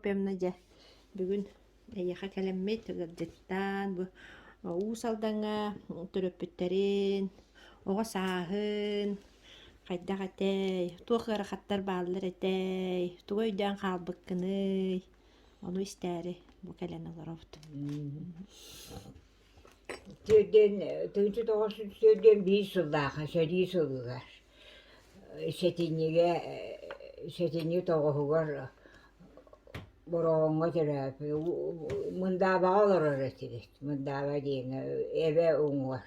Пемна дьэ, бүгүн эйиэхэ кэлэммит, ыалдьыттаан бу Уус Алдаҥҥа төрөппүттэрин, оҕо сааһын, хайдах этэй, туох ыарахаттар бааллар этэй, тугу өйдөөн хаалбыккыный, ону истээри бу кэлэн олоробут. Түөрдүөн тыһыынча тоҕус сүүс түөрдүөн биир сыллааҕы сэрии сылыгар сэтинньигэ сэтинньи тоҕуһугар Бороҕоҥҥо төрөөппүт Мындаабаҕа олорор этибит Мындааба диэни эбэ уҥуор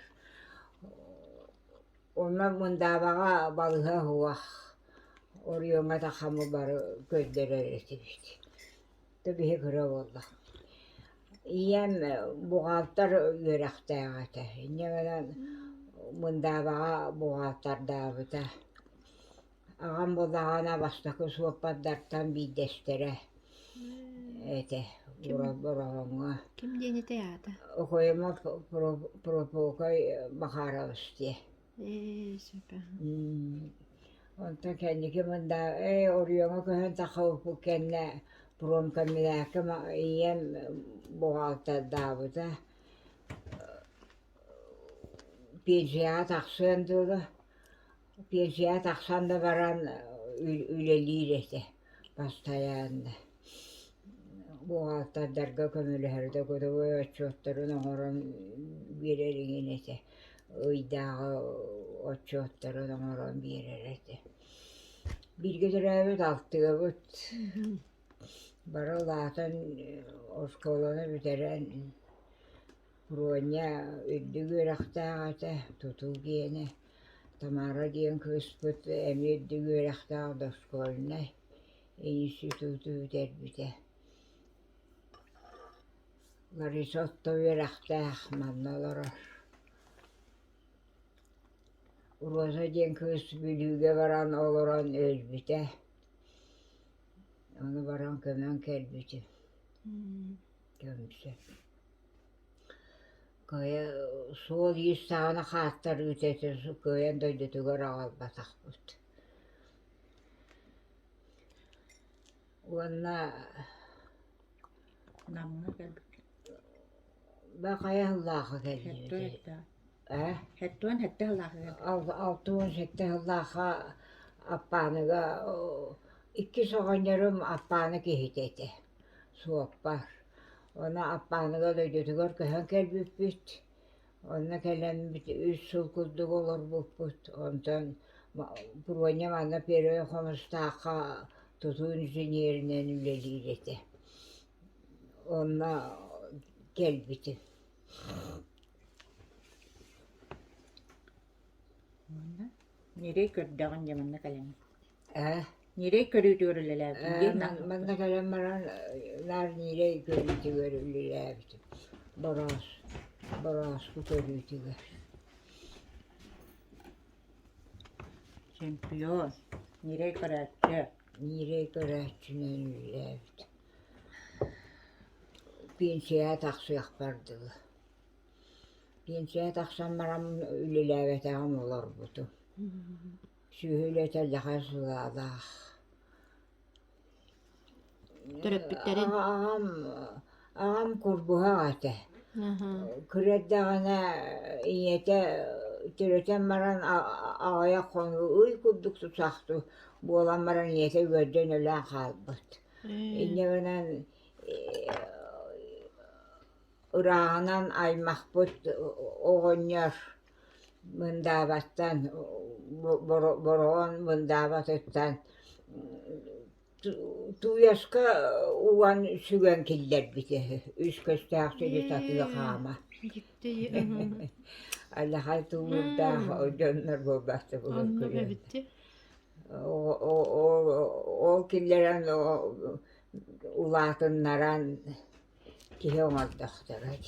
онно Мындаабаҕа балыһа уһах Орүөҥҥэ Тахамы бары көрдөрөр этибит Киһи кыра буолла. Ийэм буҕаалтар үөрэхтээҕэ этэ. Инньэ гынан мындаабаҕа буҕаалтардаабыта. Аҕам бу даҕаны бастакы суоппардартан биирдэстэрэ этэ Бороҕоҥҥо. Ким диэн этэй аата? Окоемов Прокопий Макарович диэн. Ээ, сөпө. М, Онтон кэнники мында э, оройуоҥҥа көһөн тахпыппыт кэннэ промкоммунээккэ ма- ийэм бухгалтердаабыта. Пенсияҕа тахсыан дуо да, пенсияҕа тахсан да баран ы- үлэлиир этэ. Бастайаан бухгалтердарга көмөлөһөр да кутуруй отчуоттарын оҥорон биэрэр иҥин этэ, ыйдааҕы отчуоттарын оҥорон биэрэр этэ. Бииргэ төрөөбүт алтыабыт бары улаатан оскуоланы бүтэрэн Роня үрдүк үөрэхтээх этэ, тутуу гиэнэ. Тамара диэн кыыспыт эмиэ үрдүк үөрэхтээх дошкольнай институт бүтэрбитэ. Лариса орто үөрэхтээх, манна олорор. Роза диэн кыыс Бүлүүгэ баран олорон өлбүтэ. Ону баран көмөн кэлбитим. Көнсө. Кыайа суол-иис саҕана хааттар үүтээтэ кыайан дойдутугар аҕалбатахпыт. Уонна Намҥа кэлбит. Бу хайа сыллааҕы кэллибитий? Ээ Сэттэ уон сэттэ сыллааҕыга алта алта уон сэттэ сыллаахха Аппааныга иккис оҕонньорум Аппаана киһитэ этэ, суоппар. Онно Аппааныга Өлөйдөрүгэр көһөн кэлбиппит. Онно кэлэммит үс сыл курдук олорбуппут. Онтон Буруонньа манна Первэй Хомустаахха тутуу инженеринэн үлэлиир этэ. Онно кэлбитим. Уонна ньирэй көрдөҕүн дьэ манна кэлэн ээ ньирэй көрүүтүгэр үлэлээбитим диэн наҕыллык манна кэлэн баран наар ньирэй көрүүтүгэр үлэлээбитим бороос борооску көрүүтүгэр чемпион ньирэй көрөөччү ньирэй көрөөччүнэн үлэлээбитим пенсияҕа тахсыахпар дылы Пенсия тахсан баран үлэлээбэтээҕим олорбутум. Сүөһү үлэтэрдэхэ сылаалаах. Төрөппүттэрин? Аҕам, аҕам курбуһах этэ. Кыра эрдэҕинэ ийэтэ төрөтөн баран аҕайа хонуу ый курдук тусахтыы буолан баран ийэтэ үөрдэн өлөөн хаалбыт. Инньэ гынан Ырааҕынан аймахпыт оҕонньор мындаабаттан Бороҕон мындаабатыттан Тууйаска уган сүгэн киллэрбитэ үс көстөөх сири сатыы хаама Алаһай тулуурдаах дьоннор буолбаттарбытын көрүөн ол киллэрэн улаатыннаран киһи оҥордохторот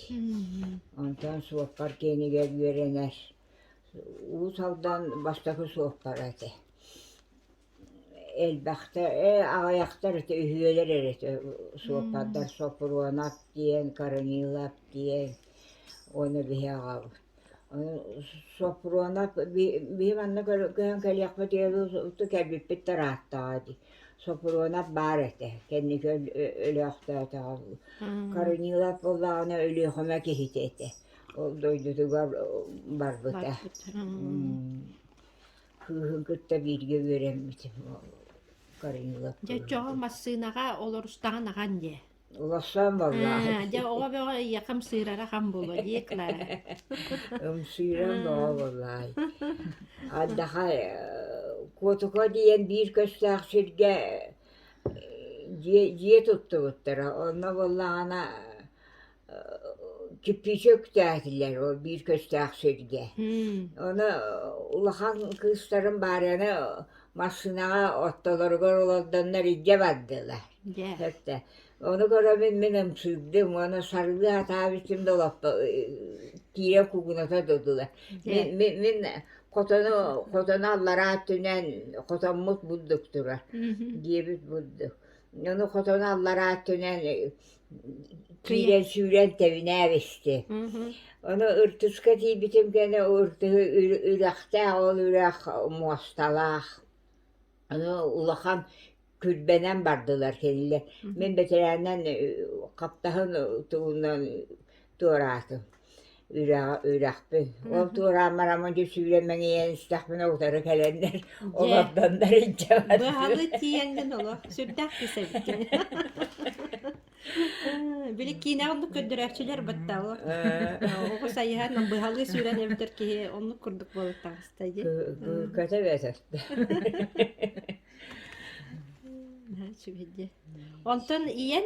онтон суоппар киэнигэр үөрэнэр уус алдан бастакы суоппара этэ элбэхтэр ээ аҕыйахтар этэ үһүөлэр эрэ суоппардар сопруонап диэн корнилов диэн уонна биһи аҕабыт Сопрунов биир манна көһөн кэлиэхпит кэлбиппит да ырааттаҕа дии. Сопрунов баар этэ, кэнники өлөөхтөөтөҕө. Корнилов буоллаҕына Өлүөхүмэ киһитэ этэ. Ол дойдутугар барбыта. Кыыһын кытта бииргэ үөрэммит Корнилов. Дьэ, дьоҕун массыынаҕа олорустаҕын аҕан дии? Улахан балаһа. Дьэ оҕо бөҕө ийэкэм сыырара хам було дии Клара. Ымсыыран бөҕө буолаай. Ардаха Куотука диэн биир көстөөх сиргэ дьиэ, дьиэ туттубуттара. Онно буоллаҕына кирпичи үктээтилэр ол биир көстөөх сиргэ. Оны улахан кыыстарым баарыны Массыынаҕа ортолоругар олордоннор илдьэ бардылар. Дьэ. Эртэ ону көрөбүн мин ымсыырдым уонна сарыы атаабытым да олохто тиирэ кугуната дылылар. Мин мин мин хотону хотону аллараа өттүнэн хотоммут бурдук турар диэбит бурдук. Ону хотону аллараа өттүнэн киирэн сүүрэн тэбинээбисти ону ыртыска тиийбитим кэннэ ыртыһы үрэхтээх ол үрэх муосталаах ону улахан күрбэнэн бардылар кинилэр мин бэтэрээннэн хаптаһын тугунан туораатым үрэҕи үрэхпин ол туораан бараммын дьэ сүүрэн мэҥийэн истэхпинэ утары кэлэннэр олордоннор иһдьэҕэр быһаҕы тиийэн гын оло сүрдээх кис эбиккэ били киинэҕэ оннук көрдөрөөччүлэр баттаҕа оҕо сайыһан быһалыы сүүрэн эбитэр киһи оннук курдук буолуохтаҕыста дии кэтэ бэтэстэ сүбэдиэ онтон ийэн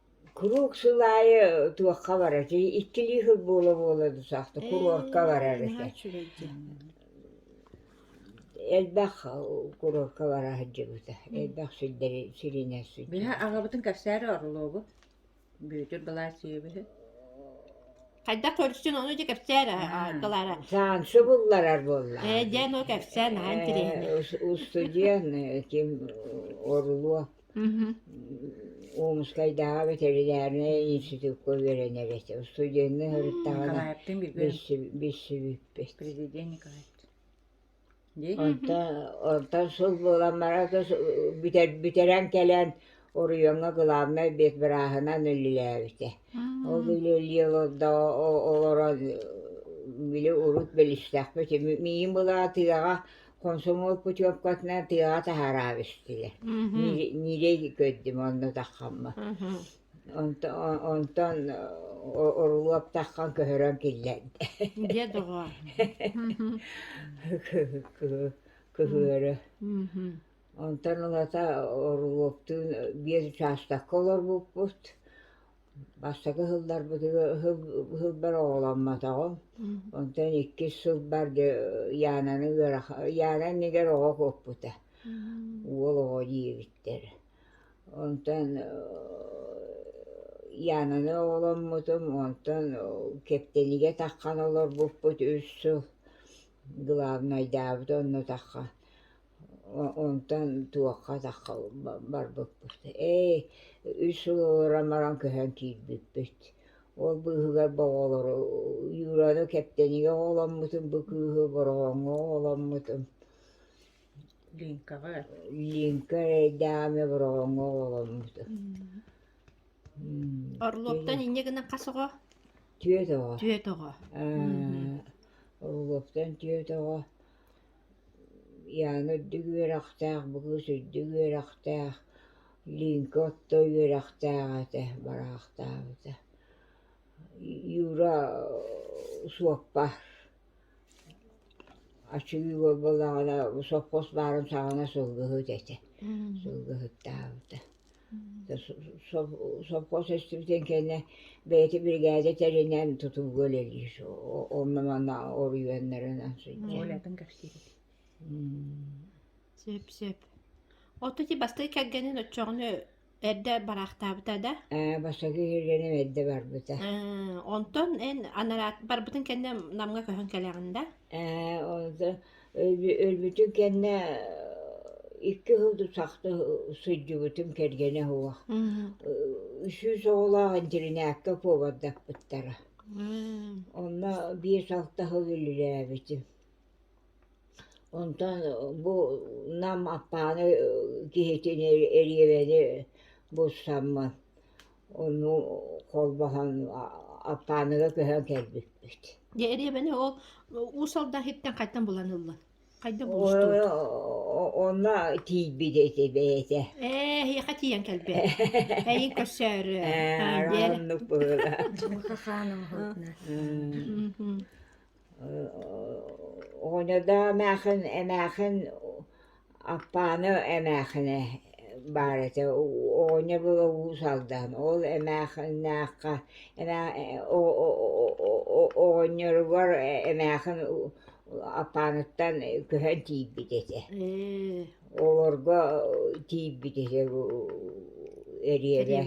Куруук сыл аайы туохха баратый, иккилии сыл буола-буола да саахта курортка барар этэ. Элбэх курортка бара сылдьыбыта, элбэх сирдэри сиринэ сылдьыбыта. Быһа аҕабытын кэпсээри орлообут, Бүөтүр Балаасьевиһы. Хайдах көрсүн ону дьэ кэпсээри Николара. Саансы булларар буолла. Ээ дьэ ону кэпсээн аһаан тириэһинэ. Устудьуон ким орлуо Омскайдааҕы ветеринарнай институкка үөрэнэр этэ. Студенныы сырыттаҕына билсибиппит. Онтон сыл буолан баран бүтэрэн кэлэн оройуоҥҥа главнай бэдбырааһынан үлэлээбитэ. Ол үлэлии олордо олорон били урут билистэхпит. Миин былаатыаҕа Комсомол путевкатынан тыаҕа таһаараабистилэр. Нилей көрдүм онно таххаммын. Онтон оруолап таххан көһөрөн киллэрдэ. Дьэ доҕоор. Кыһыары. Онтон ылата оруолаптыын биир учаастакка олорбуппут. Бастакы сылларбытыгар сыл сылбар оҕоломмотоҕум, онтон иккис сылбар дьэ Янаны ыарахан Яна иннигэр оҕо куоппута, уол оҕо диэбиттэр. Онтон Янаны оҕоломмутум, онтон Кэптэнигэ таххан олорбуппут үс сыл, главнайдаабыт оннутахха. Онтон туохха-атахха барбыппыт, ээй үс ыла баран көһөн киирбиппит. Ол быыһыгар бу оҕолору Юраны Кэптэнигэ оҕоломмутум, бу кыыһы Бороҕоҥҥо оҕоломмутум. Линкаҕа. Линка эрэйдээмэ Бороҕоҥҥо оҕоломмутум. Орлоптон инньэ гынан хас оҕо? Түөрт оҕо. Түөрт оҕо. Орлоптон түөрт оҕо. Яна үрдүк үөрэхтээх, бу кыыс үрдүк үөрэхтээх, Линка орто үөрэхтээх этэ, бараахтаабыта. Юра суоппар, ачыы буолбаллаҕына, сопхуос баарын саҕана сылгыһыт этэ, сылгыһыттаабыта. Сопхуос өстүбүтүн кэннэ бэйэтэ биригээдэ тэринэн тутууга үлэлиир. Онно-манна оройуоннарынан сылдьар. Уолатын кэпсиибит. Сөп-сөп. Отто ити бастакы кэргэнин оччоҕуна эрдэ бараахтаабыта да? Ээ, бастакы кэргэним эрдэ барбыта. Онтон эн анараат барбытын кэннэ Намҥа көһөн кэлэҕин да? Ээ, онтон Өлбүтүн кэннэ икки сыл тусахта сылдьыбытым кэргэнэ суох. Үсүс оҕолоох интиринээккэ повардаппыттара. Онно биэс алта сыл үлэлээбитим. Онтон бу Нам Аппааны киһитин эриэбэни булсаммын Ону холбоһон Аппааныга көһөн кэлбиппит. Дьэ эриэбэни ол уусалда иһиттэн хайтан булан ыллын? Хайдах булустуут? Онно тиийбит ити бэйэтэ. Ээ эһиэхэ тиийэн кэлбэт. Эйин көрсөөрү. Оннук быһыылаах. Дьылҕа хаан оҥоһулунна. Оҕоньодо эмээхин, эмээхин Аппааны эмээхинэ баар этэ, оҕонньо уус алдан, ол эмээхиннээххэ оҕонньоругар эмээхин Аппааныттан көһөн тиийбит этэ, олорго тиийбит этэ эриэрэ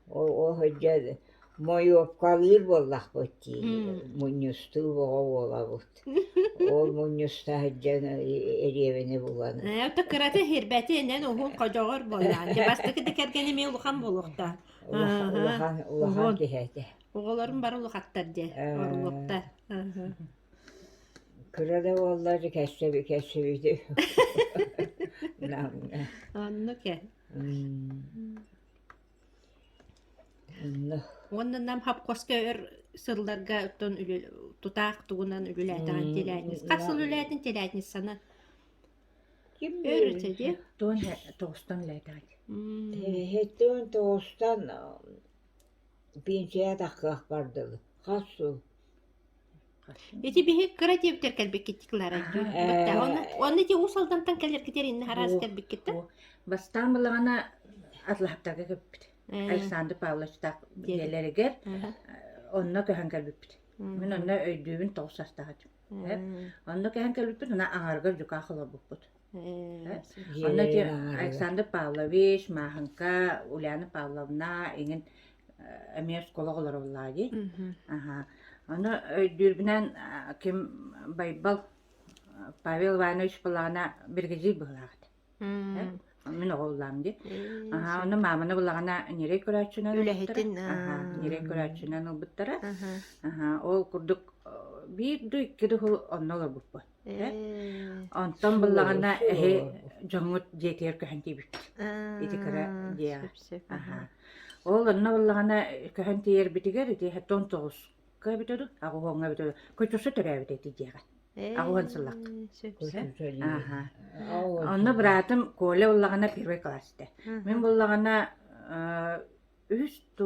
Оо дьэ мойуопкалыыр буоллахпыт дии мунньустуу бөҕө буолабыт ол мунньуста сылдьан эриэбинэ булан ээ то кырата иһирбэтин эн уһун ходьоҕор буоллаҕын дьэ бастакы да кэргэнэ эмиэ улахан буолуохтаах улахан улахан киһи этэ оҕолорум бары улахаттар дьэ оруоптар кыра да буоллар кэссэбитэ оннук ээ Уонна Нам ХАПКОС-ка өр сылларга оттон үлэ- тутаах тугунан үлэлээтэҕин тэлээтинис. Хас сыл үлээтин тэлээтинисsana? Өр өтө диэ? Туон тоҕустан үлээтэҕит. Иһиттэн тоҕустан пенсияҕа тахсыах бардылы. Хас сыл Ити биһи кыра диэбиттэр кэлбиккит Кларайдыын. Баттаа Э, онно онно ити Уус Алдантан кэлэргитигэр инна араас Бу кэлбиккиттэн. бу бастаан былаҕана Атлаһаптарга көппүт. Э, Александр Павлович таах диэбит. диэлэригэр Аха. онно көһөн кэлбиппит. Мин Мм. онно өйдүүбүн тоҕус састаахыт. Э, Мм. Онно көһөн кэлбиппит, ана аҥарга дьукаах олорбуппут. Онно ити Александр Павлович, Маахынка, Ульяна Павловна иҥин эмиэ оскуола оҕолоруллаа дии. Аха. Ону өйдүүрбүнэн ким Байбал Павел Иванович Балаана биргизий быһылаахат. Мин оҕоллаам дии. Аха, ону мааманы булаҕана нерей көрөөччүнэн үлэһитин аха, нерей көрөөччүнэн ылбыттара. Аха, ол курдук биир да икки да онно олорбуппут. Э, Онтон Суо, быллаҕана эһи суо. дьоҥҥут дьиэтигэр көһөн тиийбит. Ити кыра Аа, дьиэҕэ. сөп-сөп. Аһа. Аха. Ол онно быллаҕана көһөн тиийэрбитигэр ити иһэ тон тоҕуска эбитэ ду, аҕуһуоҥҥа эбитэ ду. Кутюрса төрөөбүтэ ити дьиэҕэ. аҕуһун сыллах. Э, сөп-сөп. Кутюрса диир. Аха. Аҕуһуон Онно сыллах. быраатым Коля быллаҕана первый классте. Мин Мгм. быллаҕана э, үһүс ту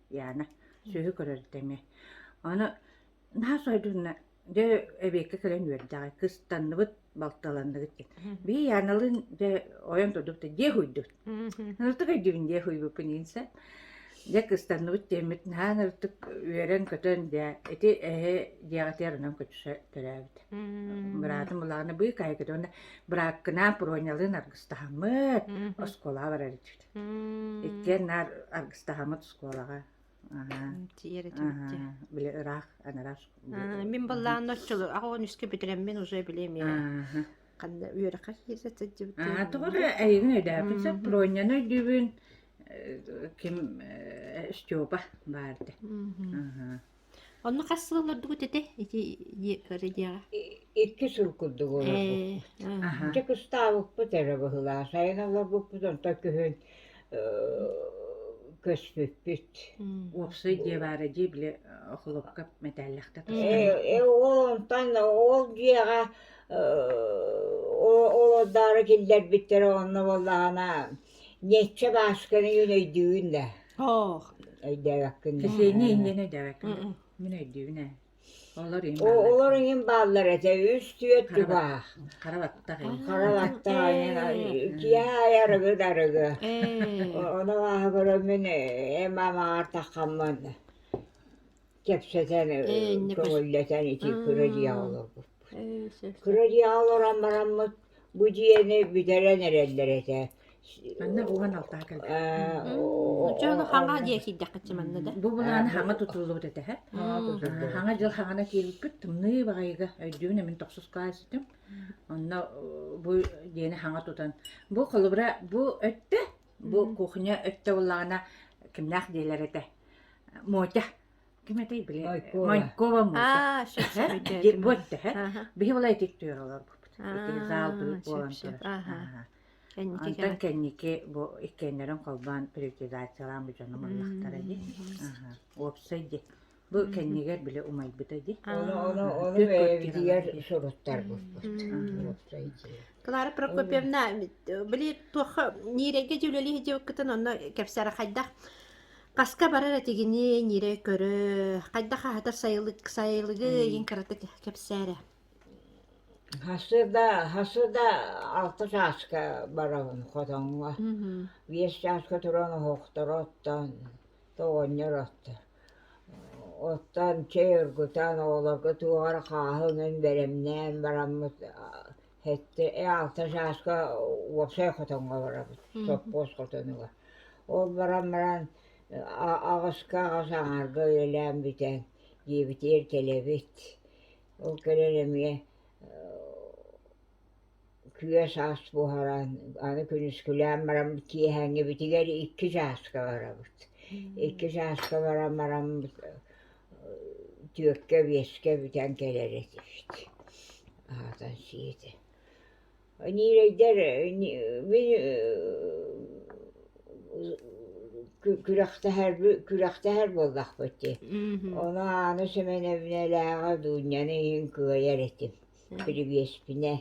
Яна, сүөһү көрөр тэҥэ. Аны наһаа сойдунна. Дьэ, эбиэккэ кэлэн үөрдэҕэ. Кыстанныбыт, балталанныбыт диэн. Бии Яналыын дьэ ойон турдубут дии хуйдут. Ырытык өйдүүбүн дии хуйбуппун инсэ. Дьэ кыстанныбыт диэммит наһаа ырытык үөрэн-көтөн дьэ ити эһэ дьиэҕитигэр онон көчүсэ төрөөбүт. Быраатым булаҕына быы кайгыта уонна бырааккынаан Пронялыын аргыстаһаммыт оскуолаҕа барар этибит. Иккиэн наар аргыстаһаммыт оскуолаҕа. Били ыраах, анарах. Мин баллаан отчулу аҕа үскэ бүтүрэммин уже билем я. Ханна үөрэххэ киирсэ сылдьыбытым. Тоҕо эйигин өйдөөбүн сөп Проньаны өйдүүбүн ким Степа баарда. Онно хас сыл олордугут ити? Ити ы диэҕэ. Иккис сыл курдук олорбуппут. Ээ, аха. Дьэ кустаабыппыт эрэ быһылаах. Сайын олорбуппут онтон күһүн көспүппүт. М. Уопсай дьиэ баара дии били холуопка мэтээллэхтэ тустаабыт. Э э ол онтон ол дьиэҕэ э олордоро киллэрбиттэрэ онно буоллаҕына Ньэччэ Баасканы мин өйдүүбүн да Оох. өйдөөбөккүн да Кисиэнньэ иннинэ дэбэккин да. Мин өйдүүбүн ээ. Олор иһин О- бааллар. олор иһин бааллар этэ үс түөрт тубаах Хара баттах иһин. хара баттах айан киэһэ ай арыгы да арыгы Ээ. О- ону ааһа көрөммүн э, эм амаҕар таххаммын кэпсэтэн көҥүллэтэн ити кыра дьиэҕэ олорбуппут кыра дьиэҕэ олорон бараммыт бу дьиэни бүтэрэн эрэллэр этэ хаҥа дьыл хаҥана киирбиппит тымныы баҕайыга өйдүүбүн эмин тохсускаа ситим онно бу дьиэни хаҥа тутан бу холобура бу өттө Бу кухня өттө буллаҕына кимнээх диэлэр этэ. Мотя. Ким этэй били? Майкова. Майкова Мотя. Бу өттө. Биһи була итик түөрэ олорбуппут. Итик зал бүк буолан түөр. Антон кэнники бу иккиэннэрин холбоон приватизациялаан бу дьону буллахтара дии. Уопсай дии. Бу кэннигэр били умайбыта дии. Ону ону ону бэйэбитигэр суруттарбыппыт. Клара Прокопьевна, били туохха Нирейгэ дьүүлэлии дьыыккытын онно кэпсэри хайдах хаска барар этигини нире көрө хайдах аһатар сайылык сайылыгы иин кырата кэпсээрэ Хасыда хасыда алта чааска барабын хотоҥҥо. Биэс чааска туран оһохторо оттон тоҕонньор отто Оттон чэй оргутан оҕолорго туох эрэ хааһы гынан бэлэмнээн бараммыт сэттэ алта сааска уопсай хотоҥҥо барабыт сопхуос хотонугар. Ол баран баран аҕыска аҕыс аҥарга үлэлээн бүтэн диэбитигэр кэлэбит. Ол кэлэн эмиэ күө-саас буһаран, аны күнүскүлээн баран киэһээҥҥибитигэр икки чааска барабыт. Икки чааска баран баран түөккэ биэскэ бүтэн кэлэр этибит. Аһатан сиэтэ. Ньирэйдэр күрэхтэһэр буоллахпыт дии. Ону Ааны Сэмэнэбинэлээҕи Дуунньаны иһин кыайар этим Күлүгүөспүнэ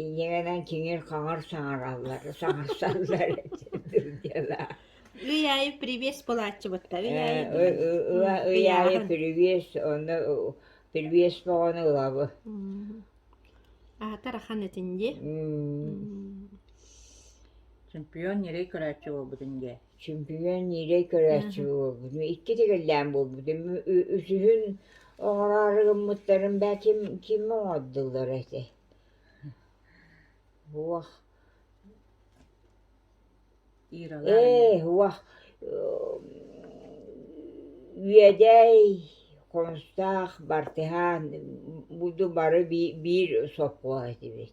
ийэҕинэн киҥир-хаҥыр саҥараллар саҥарсаллар дылдьалаах Ыйаайы привет буолааччыбыттар Ыйаайы привет онно привет боҕону ылабы аһатар ахан этин дии чемпион ньирэй көрөөччү буолбутун дии Чөмпүйүөн ньиирэй көрөөччү буолбутум, икки тигиллээн буолбутум. Үсүһүн оҥороору гыммыттарын бээ ким ким оҥордуллар этэй? Уох. Ээ, уох. Үөдэй, Хонстаах, Бартыһаан, буду бары биир сопхуос этибит.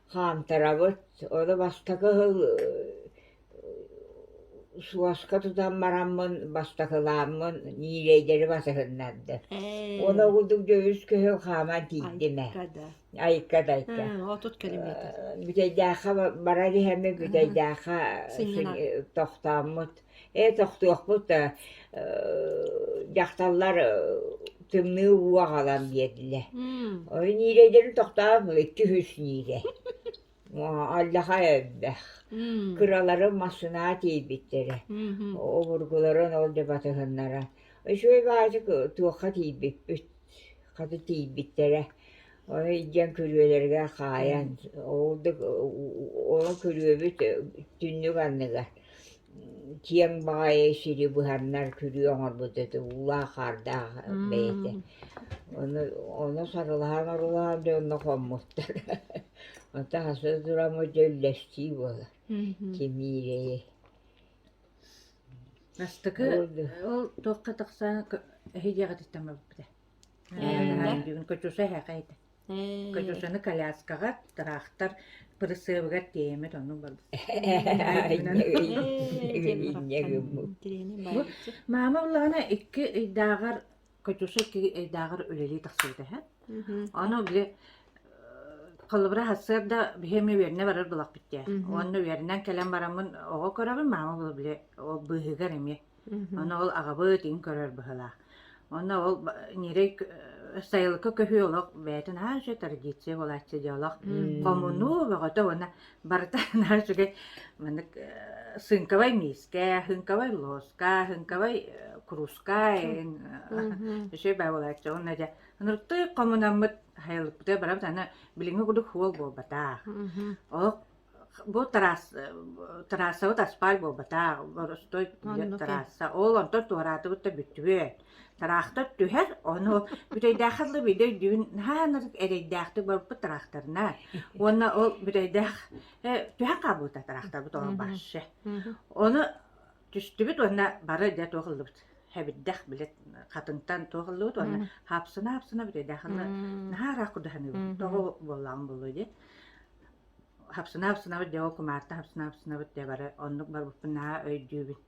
хаамтарабыт, ону бастакы хыл суоска тутан бараммын, бастакылааммын ньиилэйдэри басыһыннарда. Уонна ол курдук дьоһус көһүл хааман тиийдим ээ. Айка да. Айка да, айка. Отут километр. Бүтэйдээххэ баран иһэммин Бүтэйдээххэ Сынньана. тохтооммут. Ээ тохтуохпут ээ дьахталлар тымныы уу аҕалан биэрдилэр ой ниилэйдэрин тохтоон икки үһүс ниилэй аллаха элбэх кыраларын массынаа тиийбиттэрэ обургуларын ол да батыһыннара үчүгэй баачык туохха тиийбиппит хата тиийбиттэрэ Ой, диэн күрүөлэригэр хаайан, оҕолдук ол күрүөбүт түннүк анныгар киэҥ баҕайы сири быһаннар күрүө оҥорбут этэ, уулаах-хаардаах бэйэтэ. Ону ону сарылаһан-орулаһан дьэ онно хоммуттар. Онтон аса туран бу дьэ үллэстии буолар. Кимиирэйи. Бастакы ол туохха тахсан иһи диэҕититтэн барбыта. Катюшаны коляскаҕа, тыраахтар пырысыабыгар тиэйэммит оннук Маама улаҕана икки ыйдааҕар Катюша икки ыйдааҕар үлэлии тахсыбыт эһэ. Ону били холобура сарсыарда биһиэм үөрнэ барар былахпыттаа. Уонна үөрнэн кэлэн бараммын оҕо көрөҕүн маама били ол быыһыгар эмиэ Ону ол аҕабыт иҥ көрөр быһыылаах. Онно ол ньирэй сайылыкка көһүү олох бэйэтин аһаан үчүгэй традиция буолааччы дьэ олох хомунуу бөҕөтө уонна барыта наар үчүгэй маннык сыыҥкабай миискэ, һыыҥкабай луоска, һыыҥкабай кружка иҥ үчүгэй баа буолааччы. Уонна дьэ ынырыктык хомунаммыт сайылыкпытыгар барабыт аны билиҥҥи курдук суол буолбатах. Олох Бу тыраас трассабыт асфальт буолбатах, боростуой түһэр Оннуки. трасса. Ол онтон туораатыбыт да бүттүбүт. Тыраахтар түһэр, ону бүтэйдээххэ дылы биирдэ өйдүүбүн, наһаа ынырык эрэйдээхтик барбыппыт тыраахтарына. Уонна ол бүтэйдээх э, түһэн хаалбыта тыраахтарбыт ону Мгм. барсы. Мгм. Ону түстүбүт уонна бары дэ туох ыллыбыт. Хэбирдэх билет хатынтан туох ыллыбыт уонна Мгм. хаапсына-хаапсына бүтэйдээххэ дылы М. наһаа ыраах курдук саныыбын. Мгм. Тоҕо буоллаҕын буолуой диэн. хапсынабыт дьэ ол кумаарта хапсынабыт дьэ бары оннук барбыппын наһаа өйдүүбүн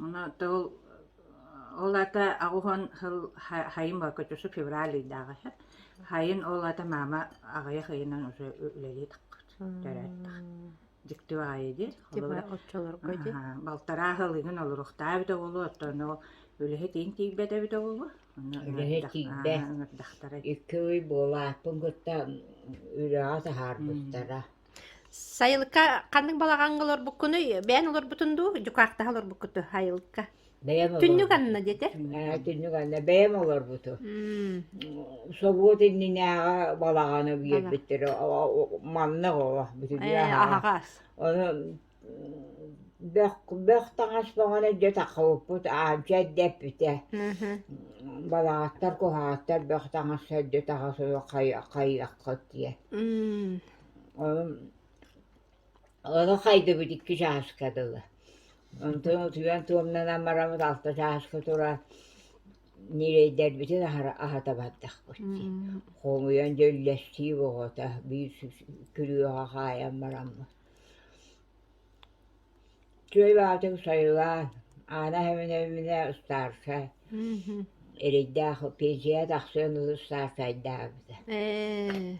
ону тыл ол аата аҕуһун сыл хайын бокочусу февраль ыйдааҕы хайын ол аата маама аҕыйах ыйынан уже үлэлии тахпыт төрөөттөх дьикти баҕайы дии оччолорго дии балтараа сыл ыйын олоруохтаа эбит оҕолу оттон ол үлэһит иин тиийбэт эбит оҕолу үлэһит киирдэ икки ый буолааппын кытта үрэҕи таһаарбыттара сайылыкка ханнык балаҕаҥҥа олорбуккунуй бэйэн олорбутун дуу дьукаахтаһа олорбуккуту сайылыкка түннүк анна диэтэ түннүк анна бэйэм олорбуту собуот иннинээҕи балаҕаны биэрбиттэрэ маннык оҕо бүтүнүү аһаҕас бөх таҥас тоҥон эрдэ аалдьа эрдэппитэ балаҕаттар куһаҕаттар бөх таҥас эрдэ-таҕа суох хайыаххыт диэн ону хайдыбыт икки чааска дылы онтон утуйан туомнанан бараммыт алта чааска туран ньирэйдэрбитин аһата бардахпыт дии хомуйан дьэ үллэстиим оҕото биир күрүөҕэ хаайан бараммыт Күөл аатын сайылаан, Аана Хэминэминэ ыстаарса эрэйдээх пенсияҕа тахсыан ылы ыстаарсайдаабыта ээ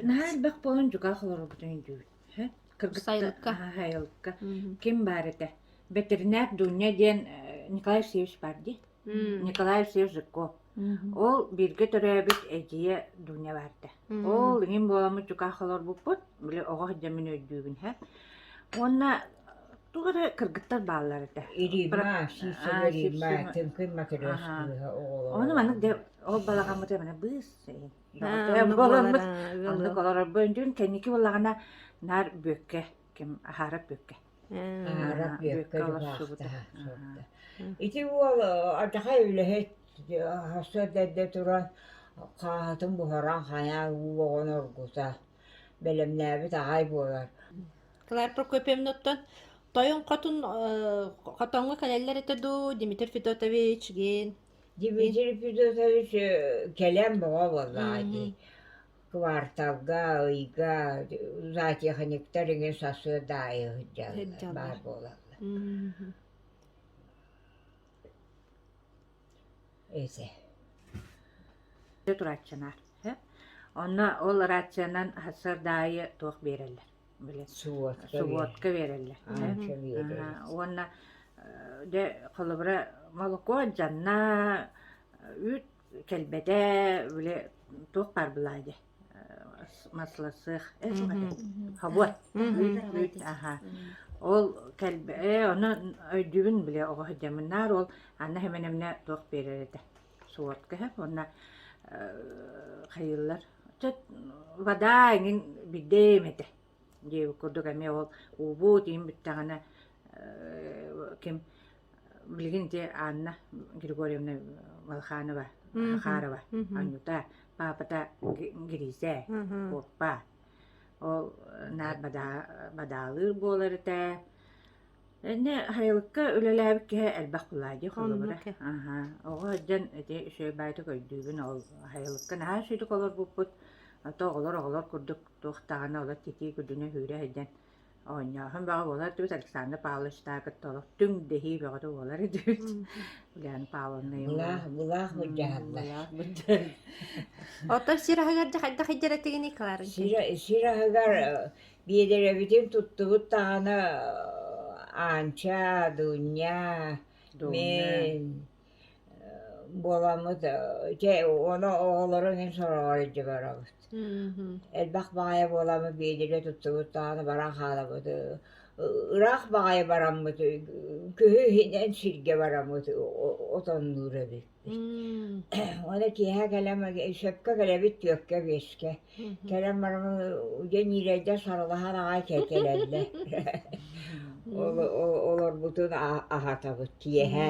Наһаа элбэх буолан дьукаах олорорбутун өйдүүбүт Сайылыкка Сайылыкка ким баар этэ Бэтэринээр Дуня диэн Николай Васильевич баар дии Николай Всеж Жирков. Ол бииргэ төрөөбүт эдьиийэ Дуня баарда. Ол иҥин буоламмыт дьукаах олорбуппут, били оҕо сылдьаммын өйдүүбүн һэ. Уонна туга да кыргыттар бааллар этэ. Ириба, шишега ириба, тыҥкын материаш кыыһа оҕолоро. Ону маннык да ол балаҕаммыт эмэне быыс болонмут оннук олорорбун дьүн кэнники буллаҕына наар бүөккэ ким аһаара бүөккэ аһаара бүөккэ дьулаахта ити уол атахай үлэһит хосто эрдэ туран хааһытын буһаран хайаа уу оҕон оргута бэлэмнээбит аҕай буолар Клар Прокопьевноттон Тойон Хотун Хотоҥҥо кэлэллэр этэ дуу Дмитрий Федотович гин Дмитрий Федотович кэлэн боҕо буоллаҕа дии кварталга, ыйга затехниктар иҥин сарсыардаайы сылдьаллар, баар буолаллар. Эсэ. Турааччанаар. Онно ол рационан сардаайы туох биэрэллэр? Субуотка Субуотка биэрэллэр. Уонна де холобура молоко, жанна, үүт кэлбэтэ били туох баар былаай дии маслосыах эн туох этэ хобот үүт үүт аха ол кэлбэ ээ ону өйдүүбүн били оҕо сылдьаммын наар ол Анна Семеновна туох биэрэр этэ суотка иһэ уонна хайыыллар чэ вода эҥин бидээм этэ диэбит курдук эмиэ ол уубут иин бүттэҕинэ ким Билигин дьэ Анна Григорьевна Малханова, Захарова, анньыта, паапата Гризэ, куоппа. Ол наар бадаалыыр буолар этэ. Иннэ хайылыкка үлэлээбит киһи элбэх тулаайдыы холобура. Аха, оҕо сылдьан ити үчүгэй баайытык өйдүүбүн ол хайылыкка наһаа үчүгэй олорбуппут. А то оҕолор оҕолор курдук туох даҕаны олор титии күдүнэ сүүрэ сылдьан оонньооһун бөҕө буолар дуу, Александр Павловичтаах кытта олох түҥ дэһии бөҕөтө буолар диэбит. Галя Павловна Былаах, былаах былдьаһаллар. Былаах былдьаһаллар. Оттон сир аһыгар дьэ хайдах иддэрэтигиний, Кларен? Сир, сир аһыгар биэдэрэбитин туттубут даҕаны Аанча, Дуня, Дуня. мен, буоламмыт дьэ ону оҕолору иҥин сороҕор илдьэ барабыт элбэх баҕайы буоламмыт биэдэрэ туттубут даҕаны баран хаалабыт ыраах баҕайы бараммыт күһү иһинэн сиргэ бараммыт отоннуур эбиппит уонна киэһэ кэлэн сөпкө кэлэбит түөккэ биэскэ кэлэн бараммын дьэ ньирэйдэр сарылаһан аҕай кэлэллэр олорбутун аһатабыт киэһэ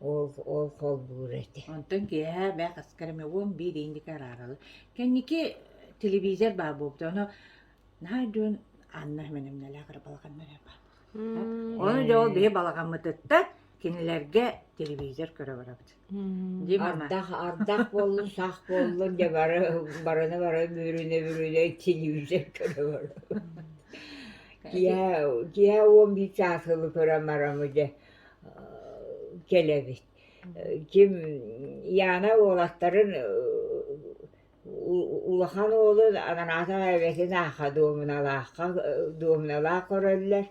Ол ол холбуур этэ. Онтон киэһэ бээ хаскар эмэ уон биир индика араараллар. Кэнники телевизор баар буолбута. Ону наһаа дьон Анна Семеновналаах эрэ балаҕаннара баар буолбута. Оны дьэ ол биһи балаҕаммытыттан кинилэргэ телевизор көрө барабыт. Дии мама. Ардах ардах буоллун, сах буоллун дьэ бары барына бары бүрүнэ бүрүнэ телевизор көрө барабыт. Киһэ киһэ уон биир чаас ылы көрөн барамы дьэ кэлэбит ким Яна уолаттарын улахан уолун ананаатах эбэтин аахха дуомуналаахха дуомуналаах көрөллөр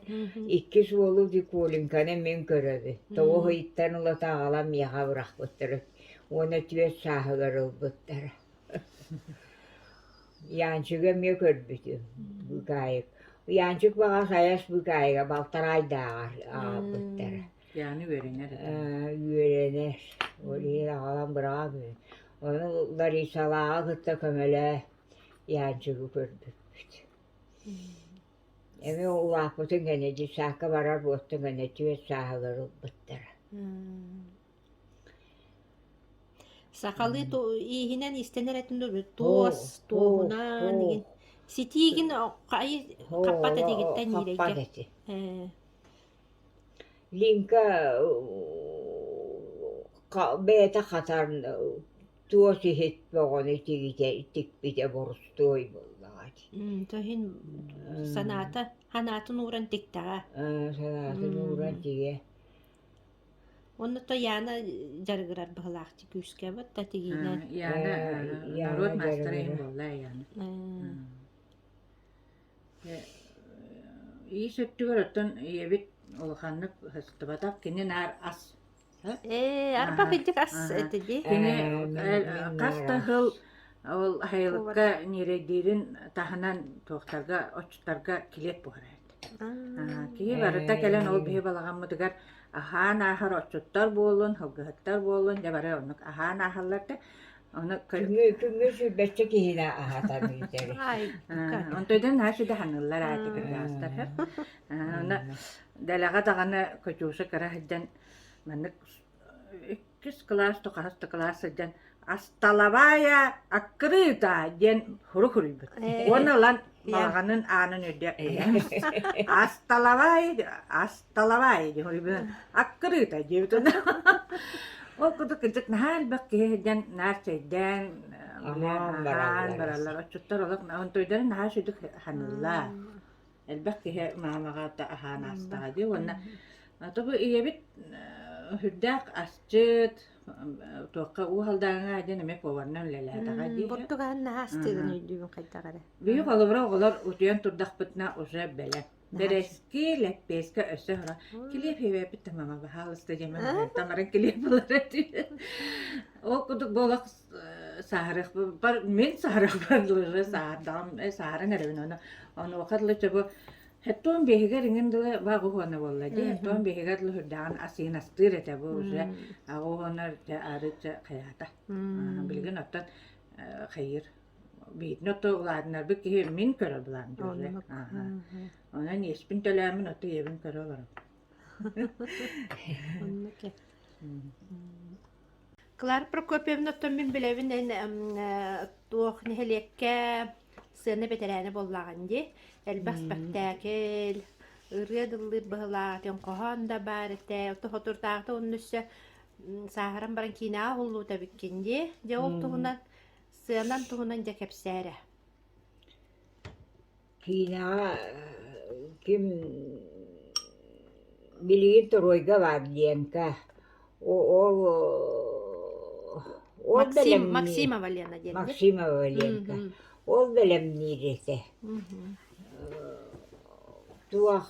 иккис уолу Дикулинканы мин көрөбүн тоҕо ыйыттан ылата аҕалан миэхэ бырахпыттара уонна түөрт сааһыгар ылбыттара Яанчыгы эмиэ көрбүтүм, быыкаайык. Яанчык баҕа хайас быыкаайыга балтараайдааҕар аҕалбыттара. Яаны үөрэнэр этэ. Үөрэнэр. Ол иһин аҕалан быраҕан гын. Ону Ларисалааҕы кытта көмөлөөн Яанчыгы көрбүппүт. Эмиэ улааппытын кэннэ детсаакка барар буоттан кэннэ түөрт сааһыгар ылбыттара. Сахалыы ииһинэн истэнэр этин дуо туос туоһунан игин ситиигин хаппат этигиттэн ниирэйгэ лиҥка бэйэтэ хатар туос иһит бөҕөнү тигитэ тикпитэ борустуой буоллаҕа тоһин санаата санаатын ууран тиктэҕэ санаатын ууран тигэ Онно Яна дьарыгырар быһылаахчы күүскэбит да тигиинэн Яна норуот маастара иһин буолла Яна иис өттүгэр оттон ийэбит улаханнык сыстыбатах кини наар ас ээ арбах идик ас этэ дии кини хас да сыл ол айылыкка ньирэйдиирин таһынан туохтарга оччоторго килиэт буолар эт Киһи барыта кэлэн ол биһи балаҕаммытыгар аһаан ааһар отчуттар буоллун, һылгыһыттар буоллун, дьэ бары оннук аһаан ааһаллар да, ону Күҥҥү күҥҥү сүүрбэччэ киһини аһатан иитэри. онтойдон наһаа сүдэ ханыыллар аати кырдьаҕастархар. Онно дэлэҕэ даҕаны Кутюша кыра сылдьан маннык иккис кылаас да хаһыс да кылаас сылдьан асталабаая аккрыта диэн сурук суруйбут уонна ылан балаҕанын аанын үрдэ асталабай асталабай диэн суруйбут аккрыта диэбит ол курдук кырдьык наһаа элбэх киһи сылдьан наар чэйдээн аһаан бараллар отчуттар олох онтойдарын наһаа сүдүк саныыллар элбэх киһи маамаҕа да аһаан аастаҕа дии уонна тугу ийэбит үрдээх асчыт туохха уу халдааҥҥа диэн эмиэ поварынан үлэлээтэҕэ дии португан наастыгын өйдүүбүн хайдах эрэ бии холобура оҕолор утуйан турдахпытына уже бэлэм Бэрэски лэппиэскэ өссө һора килиэп иһэбэппит да мама баһаалыста диэм таҥарын килиэп булара ол курдук буола сааһарыахпар мин сааһарыахпар сааһардаҕым сааһаран эрэбин ону онуоха дылы чобу Хеттон биһигэр иҥин дылы вагуһуона буолла дии хеттон биһигэр дылы хүрдэҕин асыынастыыр этэ бу уже агуһуонар дьэ арычча хайаата билигин оттон хайыр биитин отто улаатынарбыт киһи мин көрө былаам уже аха онон иэспин төлөөмүн отто ийэбин көрө олоробун Клара Прокопьевна, оттон мин билэбин эн э, туох нэһилиэккэ сцена бэтэрээнэ буоллаҕын дии. Элбэх спектакль, ырыа дыллыыр быһылаах, этиҥ хоһоон да баар этэ. Ото хотурдаахта онно өссө м, сааһыран баран киинэҕэ уһуллубут эбиккин дии. Дьэ ол туһунан, сценан туһунан дьэ кэпсээ эрэ. Киинэҕэ ким билигин торуойга баар Ленка, ол ол бэлэмниир. Максимова Лена диэн эбит. Максимова Ленка. Ол бэлэмниир этэ. Туох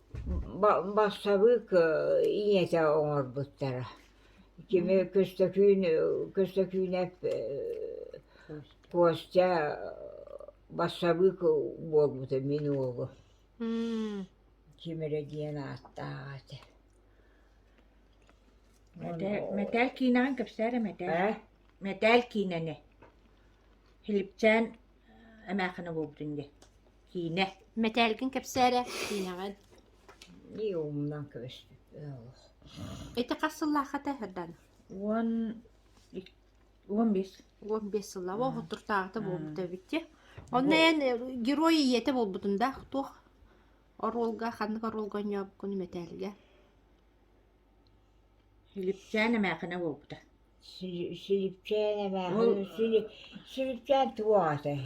бассабыык ийэтэ оҥорбуттара кими Көстөкүүн Көстөкүүнэп Костя бассабыык буолбута мин уолум ким эрэ диэн ааттаах этэ мэтээл киинэҕин кэпсээтэ мэтээл мэтээл киинэни Филипчээн Эмээхэнэ буолбутун диэн киинэ мэтээлгин кэпсээрэ киинэҕин Нии умнан көбөспүт ыаллах. ити хас сыллаах этэ дан Уон ик- уон биэс. уон биэс сыллаах Мм. уоһуттуртааҕыта буолбута эбитти онно Бу- эн э, герой ийэтэ буолбутун да туох оруолга ханнык оруолга онньообуккун мэтээлгэ Сүлүпчээн эмээхинэ буолбута. Сүлүпчээн эмээхинэ, Сүлүпчээн туох атай?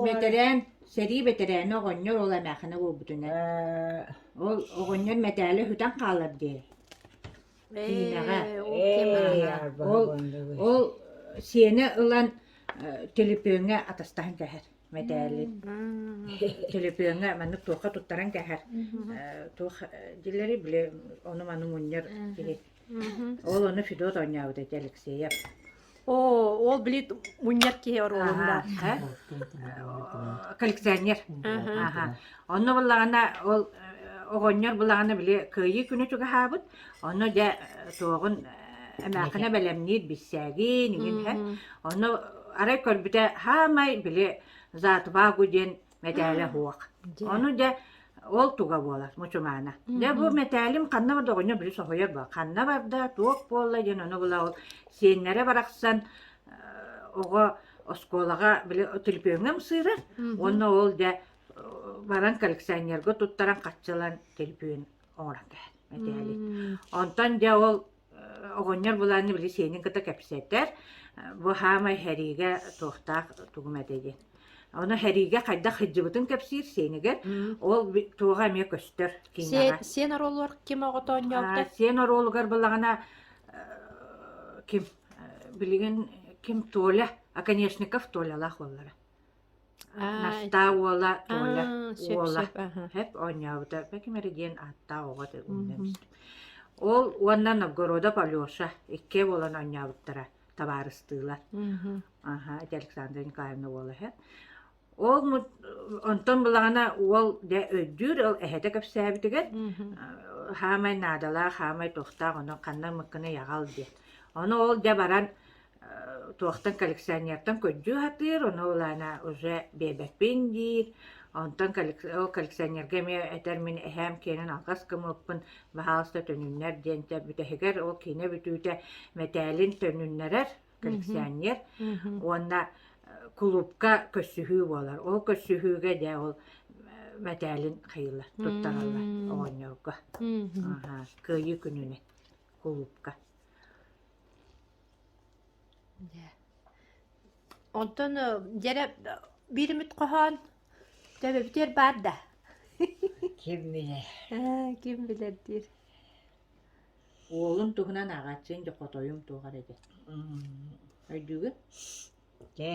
Бэтэрээн, сэрии бэтэрээнэ оҕонньор ол эмээхинэ буолбутунан. Ол оҕонньор мэтээлэ сүтэн хаалар диэ. Киинэҕэ. Ол ол сиэнэ ылан телепиҥҥэ атастаһан кэһэр. мэтээлин төлөпүөҥҥэ маннык туохха туттаран кэһэр туох дилэри били ону-маны мунньар киһи ол ону Федот оонньообут эти Алексеев оо ол били мунньар киһи оруолундаах коллекционер аха онно буллаҕына ол оҕонньор буллаҕына били кыайыы күнү чугаһаабыт Ону дьэ туоҕун эмээхинэ бэлэмниир бирсээгин игин иһэн ону арай көрбүтэ хаамай били Заатубаагу диэн мэтээлэ суох. Ону дьэ ол туга буолар мучумаана. Дьэ бу мэтээлим ханна бар доҕонньо били соһуйар бу ханна барда туох буолла диэн ону була ол сиэннэрэ барахсан оҕо оскуолаҕа били түлпүөҥҥэ ымсыырар уонна ол дьэ баран коллекционерга туттаран хаччылан түлпүөн оҥорон кэбиһэн мэтээлик. Онтон дьэ ол оҕонньор былаанны били сиэнин кыта кэпсэтэр, бу хаамай хэриигэ туохтаах тугум этэ диэн. Оны хэриигэ хайдах хыддьыбытын кэпсиир сиэнигэр, ол туоҕа эмиэ көстөр киниэҕэ. Сиэн оруолугар ким оҕото онньообута? Сиэн оруолугар былаҕына ким билигин ким Толя, Оконешников Толялаах уоллара. Настаа уола Толя Аа, уола сөп-сөп, аха. һэп оонньообута Пеким эргиэн ааттаах оҕо этэ умнан Мгм. истим. Ол уонна Новгородов Алеша икки буолан оонньообуттара табаарыстыылар. Мгм. Аха, ити Александра Николаевна уола һэ. Ол мут онтон былаҕана уол дьэ өйдүүр, ол эһэтэ кэпсээбитигэр Мгм. хаамай наадалаах, хаамай туохтаах, ону ханна мыккыны яҕал диэн. Ону ол дьэ баран туохтан коллекционертан көрдүү сатыыр, ону ылаана уже биэрбэппин диир. Онтон ол коллекционерга эмиэ этэр мин эһээм киэнин алҕас гыммыппын, баһаалыста төнүннэр диэнтэ бүтэһигэр ол киинэ бүтүүтэ мэтээлин төнүннэрэр коллекционер уонна кулуупка көрсүһүү буолар. Ол көрсүһүүгэ дьэ ол мэтээлин хайыылар, туттараллар оҕонньорго. Кыайыы күнүнэн кулуупка. Дьэ, онтон э, дьэрэ биир үмүт хоһоон төбөбүтүгэр баар да? Ким билэр. Ээ, ким билэр диир. Уолум туһунан ааҕааччыйын да хотойум туох эрэ дэ. Өйдүүгүн? Дьэ.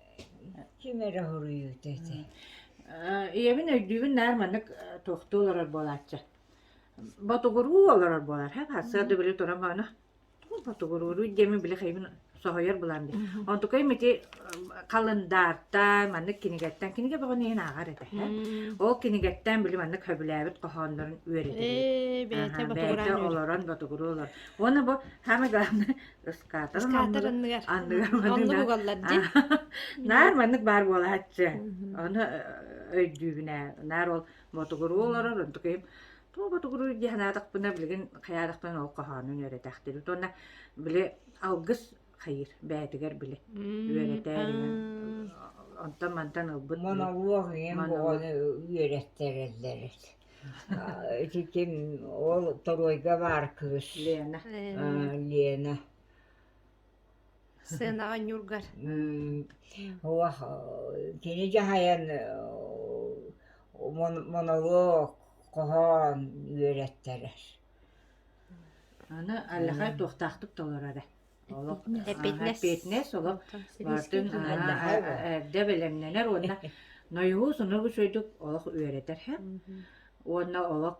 Ким эрэ хоруйуут ити. Э, ийэбин өйдүүбүн наар маннык э, туохтуу олорор буолааччы. Ботугуруу олорор буолар. Һэ, сарды били туран маана. Ботугуруу диэми били хайбын соһойор булам ди. Онтукай мити калындаартан, маннык кинигеттен, киниге бөҕөн иһин ааҕар этэ. Ол кинигеттен били маннык хөбүлээбит хоһооннорун үөрэтиһи. Бэйте ботугуруу олорон ботугуруу олорон. Уонна бу самое главное Ыскаатар Ыскаатар анныгар анныгар манна угаллар дьин наар маннык баар буолааччы ону өйдүүбүнэ наар ол ботугуруу олорор онтукайым туу ботугуруу дии санаатахпына билигин хайаатахпын ол хоһоонун үөрэтээхтиир уонна били алгыс хайыр бээтигэр били үөрэтээриҥин онтон мантан ылбыт моnoloг үөрэттэрэллэр Ити ким ол торуойга баар кыыс Лена. Э, Лена. Сценаҕа ньургар. Уох, кини дьаһайан монолог хоһоон үөрэттэрэр. Аны аллахай туохтаахтык толорорө. Олох эппиэтинэс олох барытын эрдэ бэлэмнэнэр уонна нойуһу сонургу үчүгэйдик олох үөрэтэр уонна олох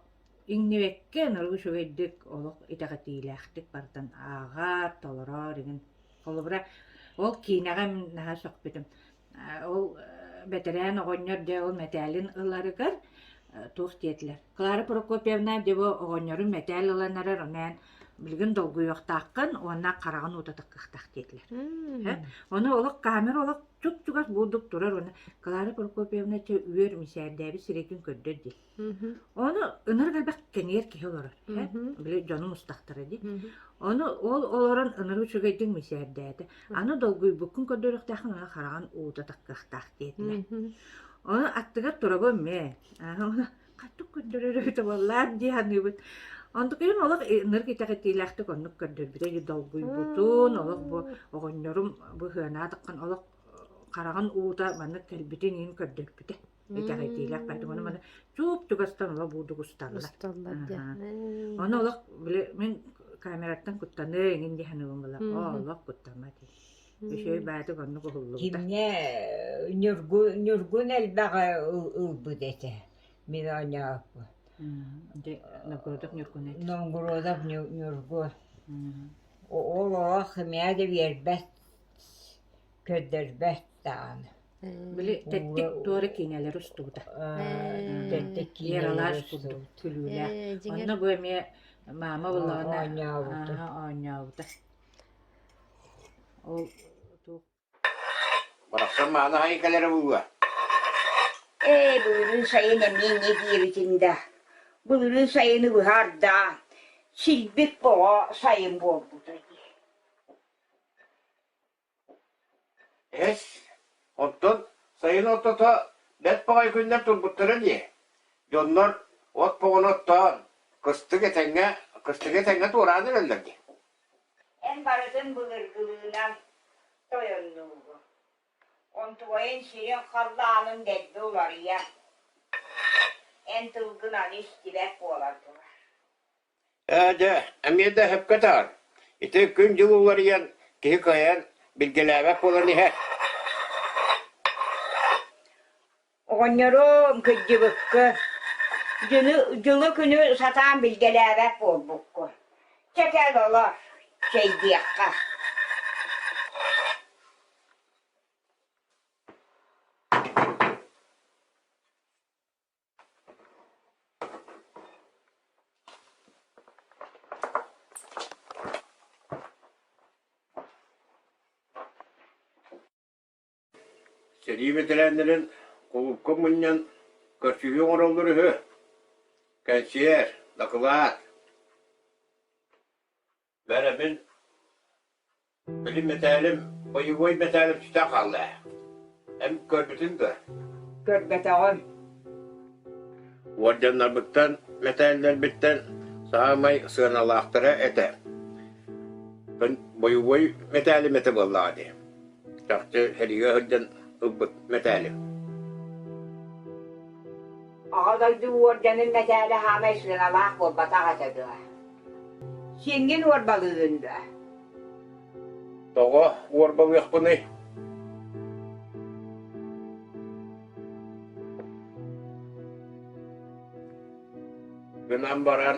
иҥнибэккэ нургу үчүгэйдик олох итэҕэтиилээхтик барытын ааҕар, толорор игин. Холобура, ол киинэҕэ наһаа сөхпүтүм. Ол бэтэрээн оҕонньор дьэ ол мэтээлин ыларыгар туох диэтилэр? Клара Прокопьевна дьэ бу оҕонньору мэтээл ылан эрэр ону эн билигин долгуйуохтааххын уонна хараҕын уута таккыахтаах диэтилэр. Ону олох камера олох чуп-чугас буурдук турар уонна Клара Прокопьевна чэ үөр мичээрдээби сирэйгин көрдөр дил. Мгм. Ону ынырык элбэх кэҥиэр киһи олорор, э, Мгм. били дьонум устахтара дии. Мгм. Ону ол олорон ынырык үчүгэйдик мичээрдээтэ. Аны долгуйбуккун көрдөрүөхтээххин аны хараҕын уута таккыахтаах диэтилэр. Мгм. Ону аттыгар турабын мэ, аһы ону хатык көрдөрөр эбитэ буоллар дии саныыбын. Онтукайым олох и ынырык итэҕэтиилээхтик оннук көрдөрбүтэ үһү. Долгуйбутун, олох бу А. оҕонньорум быһыанаатаххын олох хараҕын уута маннык кэлбитин иһин көрдөрбүтэ. итэҕитиилэх поэтому мана чууп тугастан ола буудугустанна усталлар дьэ оны олох били мин камераттан куттаныа иҥин диһэн ылым ыла олох куттаммат үчүй баатык оннук уһуллубута кимне ньургу ньургун элбэҕи ылбыт этэ мин оонньооппут Новгородов Ньургун этэ Новгородов Ньургу ол олох химия да биэрбэт көрдөрбөт даҕаны били тэттик туора киинэлэри устубута тэттик киинэлэри устубут күлүүлээх онно бу эмиэ маама буллаҕына оонньообута ол барахсан мааны хайы кэлэрэ булуа ээ былырын сайын эмиэ не диэбитин да былырын сайыны быһаардаан силбик боҕо сайын буолбута дии Эһэс, онтон сайын ортото бэрт баҕайы күннэр турбуттара дии, дьоннор от боҕону оттоон, кыстык этэҥҥэ, кыстыгы этэҥҥэ туораан эрэллэр дии Эн барытын былыргылыынан тойоннуубун. Онтугайын сирин халлаанын дэлби уларыйар. Эн тылгын аны истибэт буолан турар Ээ, дьэ, эмиэ да өһөпкө атаар, ити күн-дьыл уларыйан, киһи кыайан билгэлээбэт буолан иһэ Оҕонньору кырдьыбыкка, дьини дьылы-күнү сатаан билгэлээбэт буолбукку. Чэ, кэл олор, чэй диэххэ Сэрии бэтэрээннэрин кулуупка мунньан көрсүһүү оҥороллор үһү. Кэнсиэр, дакылаат. Бэрэбин били мэтээлим, боевой мэтээлим сүтэн хаалла ээ. Эн көрбүтүн дуо? Көрбөтөҕүм. Уордьаннарбыттан, мэтээллэрбиттэн саамай сыаналаахтара этэ. Боевой мэтээлим этэ буоллаҕа дии. чахчы сэрийэ сылдьан ылбыт мэтээлим. Оҕо дойду уордьанын мэтээлэ саамай сыаналаах буолбатах этэ дуо? Сиҥҥин уорбалыыгын дуо? Тоҕо уорбалыахпыный? Гынан баран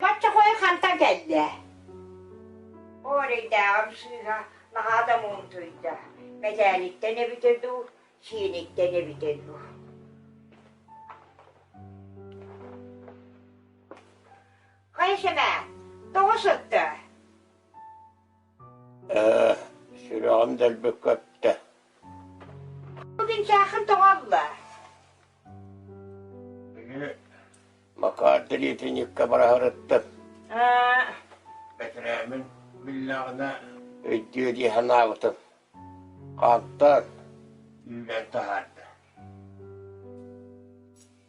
Бачча хойу хантан кэлдэ? Орэйдээҕим сыыһа наһаа да муунтуйда. Мэтээниттэн эбитэ дуу, сииниттэн эбитэ дуу. Хайа сэмэ, тоҕо сыттэ? Ээ, сүрэҕим дэлби көптө. Бу күн саахын тоҕо алла? Били Макаарды лиэтинньиккэ быраһарыттым. Бэтэрээмин биллэҕинэ өйдүө дии санаабытым. Хаантан үүнэн таһаарда.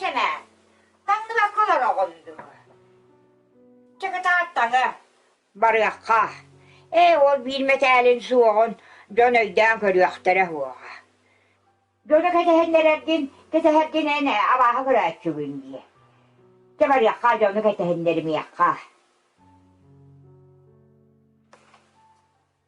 Кэнээн, таҥныбакка олороҕун дуо? Чыкытаат таҥы, барыахха. Ээ, ол биир мэтээлин суоҕун дьон өйдөөн көрүөхтэрэ суоҕа. Дьону кэтэһиннэрэргин, кэтэһэргин эн абааһы көрөөччүгүн дии. Чэ барыахха дьону кэтэһиннэримиэххэ.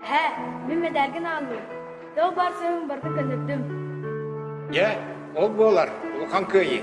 Һэ, мин мэдээлгин ааллым. Тыл баар сөбүн барыта көннөрдүм. Дьэ, ол буолар, улахан кыайыы.